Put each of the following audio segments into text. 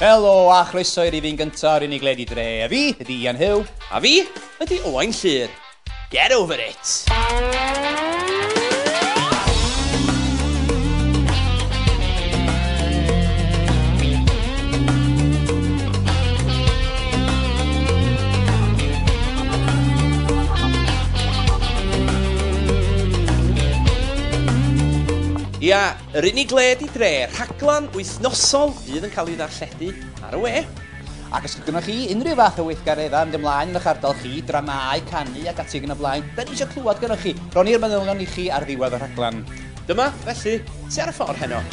Helo a chroeso i rifyn gyntaf o'r unig ledi dre. A fi ydy Ian Huw. A fi ydy Owain Llyr. Get over it! Ia, Yr unig le di dre, rhaglen wythnosol fydd yn cael ei ddarlledu ar y we. Ac os gyda chi unrhyw fath o weithgareddau yn dymlaen yn eich ardal chi, dramau, canu ac ati ag yn y blaen, da ni eisiau clywed gyda chi. Ron i'r manylion i chi ar ddiwedd y rhaglen. Dyma, felly, ti ar y ffordd heno.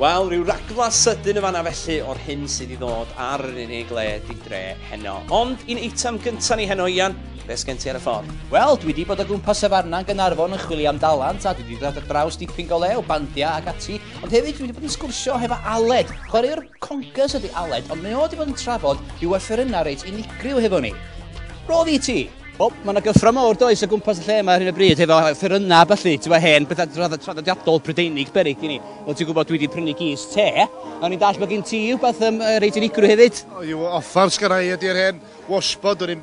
Wel, rhyw ragla sydyn y fanna felly o'r hyn sydd i ddod ar yr unig le di dre heno. Ond un eitem gyntaf ni heno, Ian, beth gen ti ar y ffordd? Wel, dwi wedi bod o gwmpas y farna yn Gynarfon yn chwilio am dalant a dwi wedi dod ar draws dipyn go lew, bandiau ac ati, Ond hefyd dwi wedi bod yn sgwrsio hefo Aled. Chwaraewr conkers ydy Aled, ond mae o wedi bod yn trafod i yna reit unigryw hefo ni. Roedd i ti! O, mae yna gyffro mawr does o gwmpas y lle yma ar hyn o bryd, hefo ffyrynau a falle, ti'n hen, bethau traddodiadol Prydeinig berig i ni. Ond ti'n gwybod, dwi wedi prynu gys te, a ni'n dall bod gen ti rhywbeth um, reit unigryw hefyd. O, yw offer sgyrau ydy'r hen washbod, o'n i'n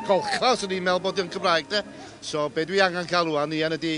golchfa os o'n i'n meddwl bod yn Cymraeg te. So, be dwi angen cael rwan, Ian, ydy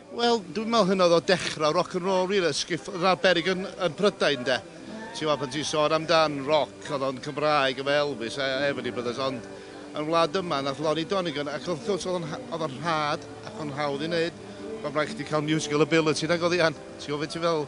Wel, dwi'n meddwl hynna oedd o dechrau rock and roll rili, sgif yna'r berig yn, yn Prydain de. Ti'n meddwl pan ti'n sôn amdan rock, oedd o'n Cymraeg efo Elvis a Everly Brothers, ond yn wlad yma nath Lonnie Donegan, ac wrth gwrs oedd o'n rhad ac o'n hawdd i wneud, mae'n rhaid chdi cael musical ability nag oedd Ian, ti'n gwybod beth ti'n feddwl?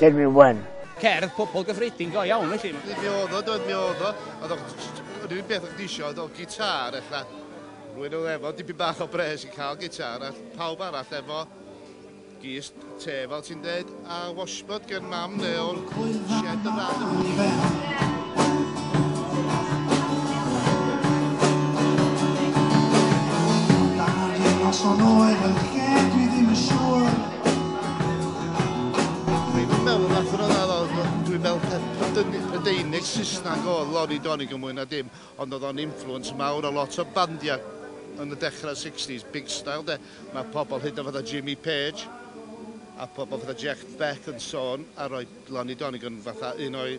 Dyn mi wen. Cerdd pobl gyffredin go iawn felly. Dyn mi oedd o, dyn mi oedd o. Oedd o'n rhywun beth o'ch disio, oedd o'n gitar ella. Rwy'n oedd efo, dipyn bach o bres i cael gitar, a pawb arall efo gys te fel ti'n dweud, a washboard gen mam neu o'n shed y rhan yma. Dwi'n meddwl na thro na ddod, dwi'n meddwl peth dyn- y deunydd Saesneg oedd Lonnie Donegan mwy na dim, ond oedd o'n influence mawr o lot o bandiau yn y dechrau 60s, big style de. Mae pobl hyd yn oed fatha Jimmy Page a pobl fatha Jeff Beck yn sôn a rhoi Lonnie Donegan fatha un o'i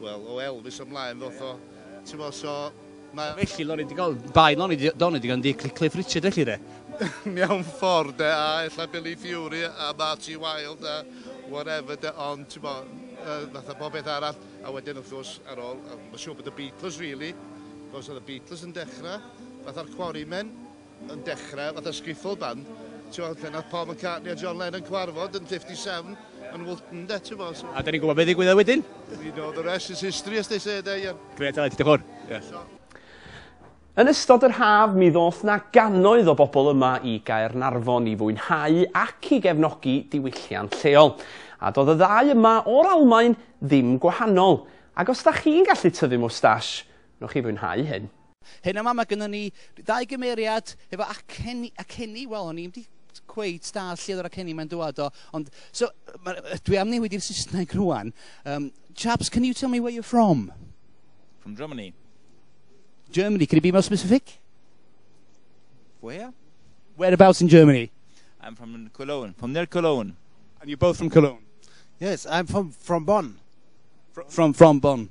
Wel, o Elvis ymlaen ddoth o. Ti'n mo, so... Ma... Felly, o'n i wedi cael dau non i di, don i wedi cael yn di Cliff Richard felly de. Mewn ffordd de, a ella Billy Fury a Marty Wilde a whatever de, ond ti'n mo, uh, fatha bob beth arall, a wedyn wrth gwrs ar ôl, mae'n siŵr bod y Beatles really, gos oedd y Beatles yn dechrau, fatha'r Quarrymen, yn dechrau fatha skiffle band, t'mod, lle nath Paul McCartney a John Lennon cyfarfod yn 57 yn Woolton 'de, t'mod, so... A 'dan ni'n gwbod be' ddigwyddodd wedyn. We know the rest is history as they say 'de, Ian. Grêt Aled, diolch fowr. Ie. Yn ystod yr haf mi ddoth 'na gannoedd o bobl yma i Gaernarfon i fwynhau ac i gefnogi diwylliant lleol. A do'dd y ddau yma o'r Almaen ddim gwahanol. Ac os 'da chi'n gallu tyfu mwstash, Nwch chi fwynhau hyn. Heno yma mae gynnon ni ddau gymeriad efo acen- aceni, wel o'n i'm 'di cweit dallt lle oedd yr aceni 'ma'n dŵad o, ond so ma' yy dwi am newid i'r Saesneg rŵan. Yym, chaps, can you tell me where you're from? From Germany. Germany, can you be more specific? Where? Whereabouts in Germany? I'm from Cologne, from near Cologne. And you're both from Cologne? Yes, I'm from, from Bonn. Fr- from, from Bonn.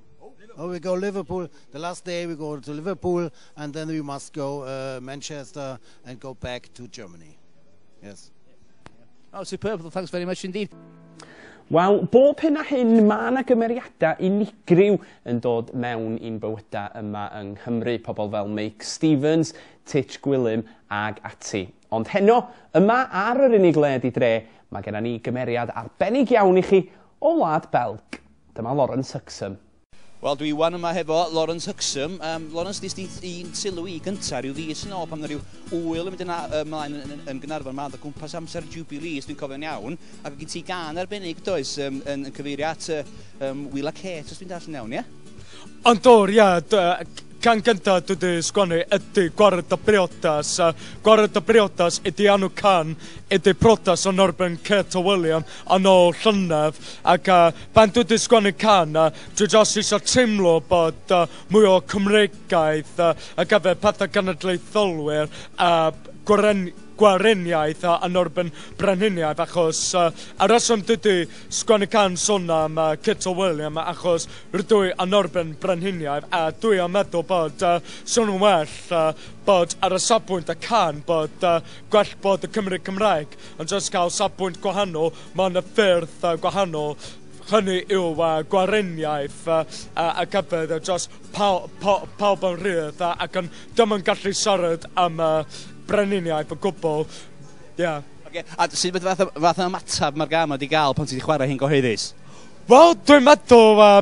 Oh, we go Liverpool. The last day we go to Liverpool and then we must go uh, Manchester and go back to Germany. Yes. Oh, superb. Thanks very much indeed. Wel, bob hyn a hyn, mae yna gymeriadau unigryw yn dod mewn i'n bywydau yma yng Nghymru, pobl fel Meic Stevens, Titch Gwilym ag ati. Ond heno, yma ar yr unig le di dre, mae gennym ni gymeriad arbennig iawn i chi o Wlad Belg. Dyma Lawrence Huxham. Wel dwi wan yma hefo Lawrence Huxham. Um, Lawrence, ddys di un sylw i gyntaf rhyw ddys yn ôl pan yna rhyw wyl yn mynd yna ymlaen yn, yn, yn Gynarfon yma, o gwmpas amser Jubilee, os dwi'n cofio'n iawn, ac o gyd ti gan arbennig does um, yn, yn cyfeirio at uh, um, Wila Kate, os dwi'n darllen iawn, ie? Yeah? Ond dor, ia, Can gyntaf dwi wedi sgwennu ydy Gwared y Briodas. Uh, Gwared y Briodas ydy anw can, ydy protas o Norben Kate o William. yn ôl llynedd ac yy pan dwi 'di sgwennu can yy dwi jyst isio teimlo bod yy mwy o Cymreigaidd yy ar gyfer pethe cenedlaetholwyr a gweren- gweriniaeth yy yn erbyn brenhiniaeth achos yy y rheswm dwi 'di sgwennu can sôn am yy Kit o William achos rydw i yn erbyn brenhiniaeth a dwi yn meddwl bod yy swn i'n well yy bod ar y safbwynt y can bod yy gwell bod y Cymry Cymraeg. Yn dros gael safbwynt gwahanol, mae yna ffyrdd gwahanol hynny yw uh, gwareniaeth uh, a gyfer uh, dros paw, paw, pawb yn rhydd uh, ac yn ddim yn gallu siarad am uh, breniniaeth o gwbl. Yeah. Okay. A sydd fath, fath o ymateb mae'r gam wedi gael pan ti wedi chwarae hyn gyhoeddus? Wel, dwi'n meddwl uh,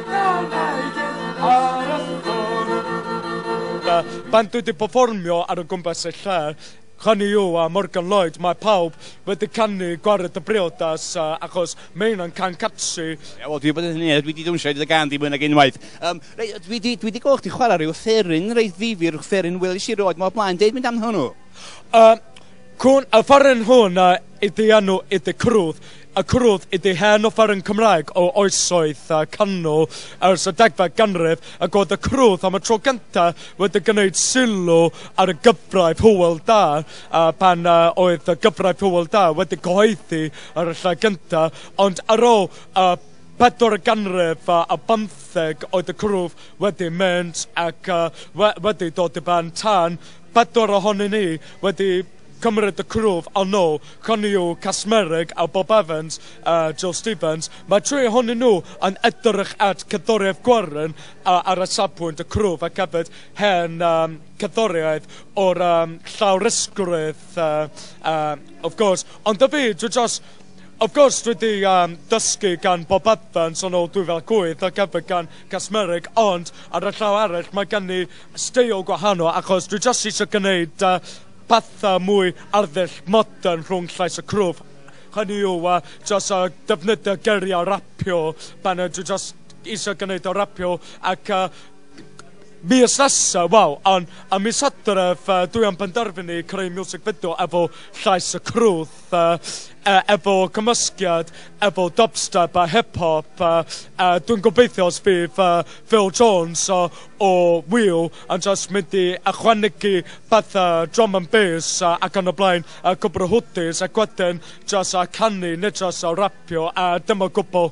Pan dwi 'di perfformio ar o gwmpas y lle, Connie Yu a Morgan Lloyd, mae pawb wedi canu 'Gwared y Briodas' achos mae heina'n can catchy. Wel, dwi 'di bod yn hynny, a dwi 'di dawnsio i dy gân di mwy nag unwaith. Yym, rei- dwi 'di, dwi 'di gwel' chdi chwara' ryw offeryn reit ddifyr, offeryn welish i rioed 'ma o blaen. Deud mynd am hwnnw? Yym, cŵn y fforyn hwn ydi enw i dy crwth. a cwrwyd iddi hen offeryn Cymraeg o oesoedd canol ers y degfed ganrif, ac oedd y cwrwyd am y tro cyntaf wedi gwneud sylw ar y gyfraith Hywel Dda, pan oedd y gyfraith Hywel Dda wedi cyhoeddi ar y lle gyntaf, ond ar ôl y pedwaredd ganrif ar bymtheg oedd y cwrwyd wedi mynd ac wedi dod i ben tan pedwar ohonyn ni wedi Cymryd y cwrw ar nôl Connie yw Casmereg a Bob Evans a Joe Stevens, mae'r tri ohonyn nhw yn edrych at cerddoriaeth gwarren ar y safbwynt y cwrw ac hefyd hen um, cerddoriaeth o'r um, llawrysgrif uh, um, of course. Ond y fi, dwi just, of course dwi wedi um, dysgu gan Bob Evans yn ôl 2008 ac hefyd gan Casmereg, ond ar y llaw arall mae gen i steil gwahanol achos dwi just eisiau gwneud uh, pethau mwy arddull modern rhwng llais a cwrw, hynny yw a jyst a defnyddio geiriau rapio pan ydw jyst eisiau gwneud o rapio ac a mis nesaf, wel, ond a mis Hydref uh, dwi am penderfynu creu music video efo llais y crwth, uh, uh, efo cymysgiad, efo dubstep a hip-hop, uh, uh, dwi'n gobeithio os fydd uh, Phil Jones uh, o Wheel Ond os mynd i ychwanegu petha drum and bass a ac yn y blaen a cwpl o hwtis ac wedyn jyst a canu neu jyst a rapio a dim o gwbl.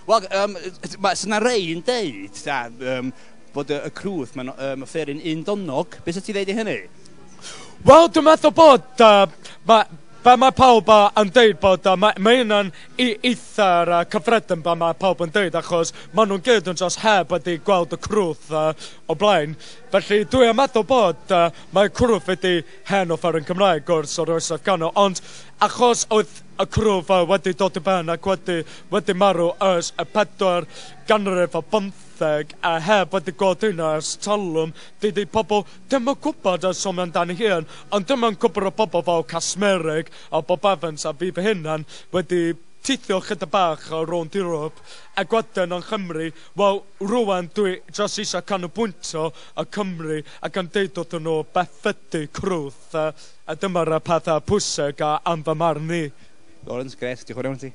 Wel yym ma' so 'na rei yn deud ta yym bod y y crwth ma'n yym offeryn undonnog, be' sa ti'n ddeud i hynny? Wel dwi'n meddwl bod yy ma' be' ma' pawb yy yn deud bod yy ma' ma' hyn yn i- eitha'r yy cyffredin be' ma' pawb yn deud achos ma' nhw'n gyd yn jyst heb wedi gweld y crwth yy o blaen. Felly, dwi am addo bod, yy, mae Cwrw wedi hen offer yn Cymraeg, gwrs, o'r oesoedd canol, ond achos oedd y Cwrw fel wedi dod i ben ac wedi, wedi marw ers y pedwar ganrif ar bymtheg, a heb wedi gweld un ers talwm, dydy pobl ddim yn gwybod a sôn amdani hi yn, ond dyma'n cwpwr o bobl fel Casmerig a Bob Evans a fi fy hunan wedi tithio chydig bach o rownd Ewrop ac wedyn yng Nghymru, Wel, rŵan dwi jyst eisiau canolbwyntio ar Cymru a gan deud wrthyn nhw beth ydy crwth, a dyma'r y pethau pwysig a yn fy marn i. Lawrence, grêt, diolch yn fawr iawn i ti.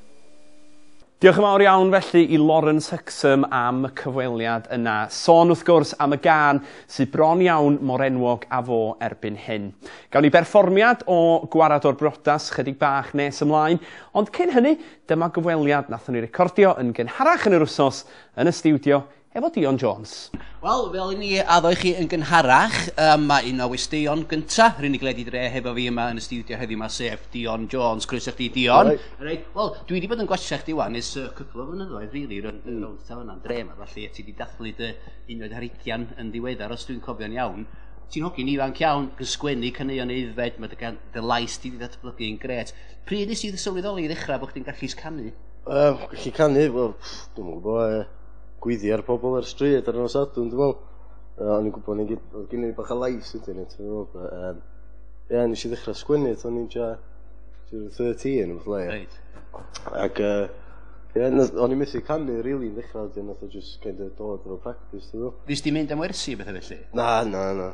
Diolch yn fawr iawn felly i Lawrence Hexham am y cyfweliad yna. Sôn wrth gwrs am y gân sydd bron iawn mor enwog â fo erbyn hyn. Gawn ni berfformiad o Gwared o'r Briodas chydig bach nes ymlaen, ond cyn hynny, Dyma gyfweliad nathon ni recordio yn gynharach yn yr wsos yn y stiwdio efo Dion Jones. Wel, fel i ni addo i chi yn gynharach, um, mae un o westeion gynta rhywun i gledu dre hefo fi yma yn y stiwdio heddiw yma, sef Dion Jones. Croeso chdi, Dion. Right. Wel, dwi wedi bod yn gwachio chdi wan ys uh, cwpl o flynyddoedd, rili, really, rhywun mm. rownd taw yna'n dre yma, felly, ti wedi dathlu dy unwaith ar ugian yn ddiweddar, os dwi'n cofio'n iawn ti'n hogi'n ifanc iawn, yn sgwennu caneuon aeddfed, mae dy, dy lais di wedi datblygu yn gret. Pryd nes i sylweddoli i ddechrau bod chdi'n gallu canu? Uh, gallu canu, wel, dwi'n gwybod, e, gwyddi ar pobl ar stryd ar yno sadwn, dwi'n meddwl. Uh, o'n i'n gwybod, o'n i'n gen i bach o lais ydyn ni, ti'n gwybod. Um, Ie, nes i ddechrau sgwennu, o'n i'n ja 13, fath le. Reit. Ac, uh, ie, o'n i'n methu canu, really, yn ddechrau, dwi'n nath o just kind of dod o'r practice, ti'n gwybod. Nes di mynd am wersi beth felly? Na, na, na.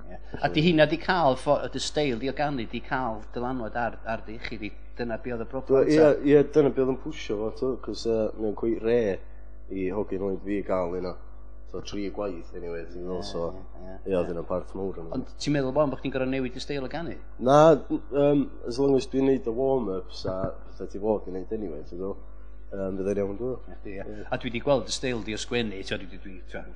A di hynna di cael, y dy steil di o ganu, di cael dylanwad ar, ar dy iechyd i. Dyna be oedd y broblem ta? Ie, ie, dyna be oedd yn pwysio fo, to, cos uh, mae'n cwy re i hogyn oed fi gael yna. So, tri gwaith, anyway, ti'n meddwl, so, ie, oedd yna barth mawr yna. Ond ti'n meddwl bod chi'n gorau newid y steil o ganu? Na, um, as long as dwi'n neud y warm-ups a pethau ti fod yn neud anyway, ti'n meddwl. Um, byddai'n iawn dwi'n. Yeah. A dwi wedi gweld y steil di o sgwennu, dwi wedi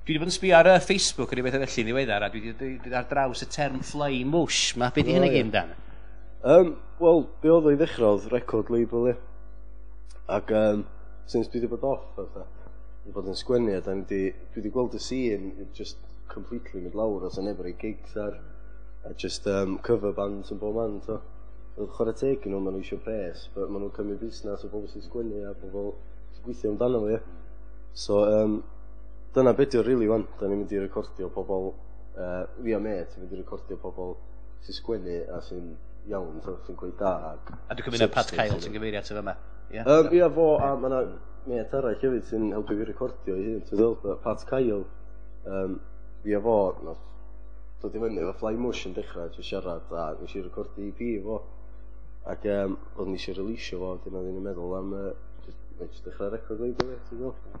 Dwi wedi bod yn sbio ar uh, Facebook yn ei bethau felly yn ddiweddar, a dwi wedi dod ar draws y term fly mush. Mae beth i hynny gyd dan? Um, Wel, be oedd o'i ddechrau oedd record label, ie. Ac um, since dwi wedi bod off, fatha, dwi wedi bod yn sgwennu, a dwi wedi gweld y scene, just completely mynd lawr, os yn efo'r ei gigs ar, a just um, cover bands yn bob man, to. Oedd chwarae teg yn nhw, maen nhw eisiau pres, but maen nhw'n cymryd busnes o bobl sy'n sgwennu a bobl sy'n gweithio amdano fo, ie. So, um, Dyna be' 'di o rili wan. 'Dan ni mynd i recordio pobol yy fi a mêt yn mynd i recordio pobol sy'n sgwennu a sy'n iawn t'o' sy'n cweit da ac... A dwi'n cymryd na Pat Kyle ti'n gyfeirio ato fama? Ia? Yym ia fo a ma' 'na mêt arall hefyd sy'n helpu fi recordio ei hun ti'n gweld yy Pat Kyle yym fi a fo nath dod i fyny efo Fly Mush yn dechra isio siarad a nes i recordio EP efo ac yym odd ni isio releasio fo wedyn oeddwn i'n meddwl am yy jyst jyst dechra record label fi ti'n gwel'?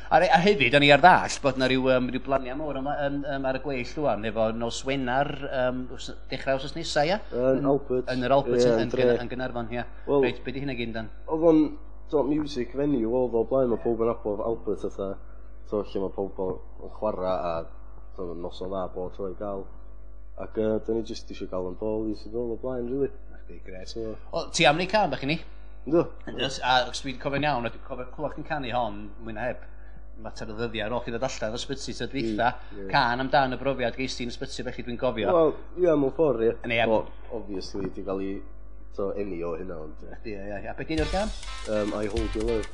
A, a hefyd, o'n i ar ddall bod yna rhyw, um, rhyw blaniau mawr yma, um, um, ar y gweill rwan, efo nos Wener, um, dechrau os nesau, ia? Yn Albert. Yn yr Albert, yeah, yn, yn, yn Gynarfon, ia. Well, Reit, beth di hynna gyn dan? Oedd o'n dot music venue, oedd o blaen, mae pob yn abod Albert oedd e. So, lle mae pob yn chwarae a so, nos o dda bod troi gael. Ac uh, dyn ni jyst eisiau gael yn bol i sydd o blaen, rili. Really. Gret. So, o, ti am ni cam, bach i ni? Ynddo. Yes, a os dwi'n cofio'n iawn, a dwi'n cofio clywed chi'n canu hon, mwy na heb, mater o ddyddiau ar ôl chi ddod allan o'r sbyty tro dwytha, mm, yeah. can amdan y brofiad geis ti'n sbyty fe chi dwi'n gofio. Wel, ie, yeah, mewn ffordd, ie. Yeah. Yeah. Well, obviously, di gael ei to enni o hynna, ond... Ie, ie, ie. A beth gen i'r gan? Um, I Hold Your Love.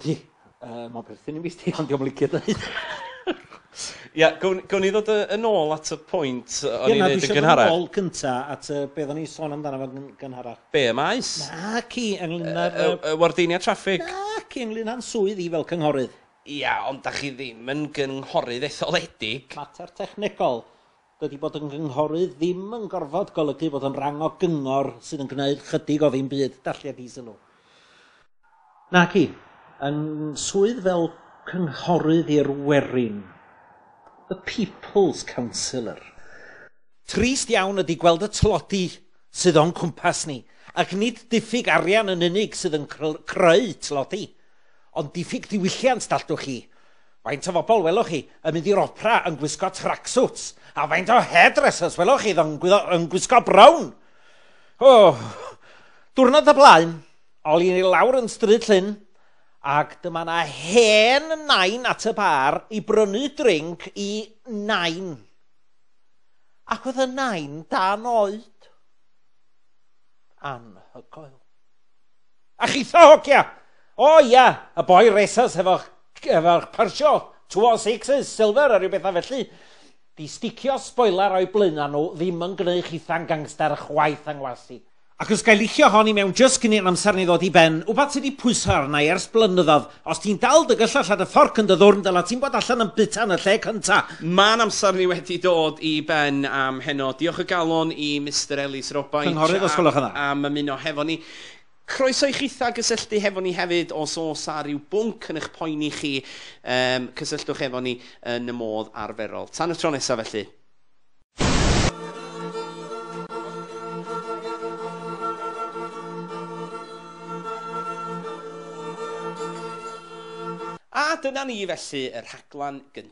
Ydy, yy ma'n perthyn i mi sti ond dio'm licio deud. Ia gown gown ni ddod yy yn ôl at y pwynt yy o'n i'n neud yn gynharach. Ie na dwi isio dod yn ôl cynta at yy be' oddan ni'n sôn amdano fo yn gynharach. Be' y maes? Naci ynglŷn â'r yy... Y y wardeiniad traffig? Naci ynglŷn â'n swydd i fel cynghorydd. Ia ond 'dach chi ddim yn gynghorydd etholedig. Mater technegol. Dydi bod yn gynghorydd ddim yn gorfod golygu fod yn rang o gyngor sydd yn gwneud chydig o ddim byd, dallia di sylw. Naci, yn swydd fel cynghorydd i'r werin, the people's councillor. Trist iawn ydi gweld y tlodi sydd o'n cwmpas ni, ac nid diffyg arian yn unig sydd yn creu tlodi, ond diffyg diwylliant dalltwch chi. Faint o fobl welwch chi yn mynd i'r opera yn gwisgo tracksuits? A faint o hairdressers welwch chi yn gwisgo, yn gwisgo brown? O, diwrnod y blaen, ol i lawr yn stryd llyn, ac dyma na hen nain at y bar i brynu drink i nain. Ac oedd y nain dan oed. Anhygoel. A chitha hogia! O ia, y boi racers hefo'ch efo'r persio, two or sixes, silver a rhyw bethau felly, di sticio sboiler o'i blaenau nhw ddim yn gwneu chitha'n gangster chwaith anghlasi. Ac os ga'i licio hon i mewn jyst cyn i'r amser ni ddod i ben, wbath sy' 'di pwyso arna'i ers blynyddodd, os ti'n dal dy gyllell a dy fforc yn dy ddwrn dyla ti'n bod allan yn buta yn y lle cynta! Ma'n amser ni wedi dod i ben am heno. Diolch o galon i Mister Ellis Robaint... Cynghorydd os gwelwch yn dda. ...am ymuno hefo ni. Croeso i chitha gysylltu hefo ni hefyd os oes a rhyw bwnc yn eich poeni chi, um, cysylltwch efo ni yn y modd arferol. Tan y tro nesaf felly. A dyna ni felly, y rhaglen gyntaf.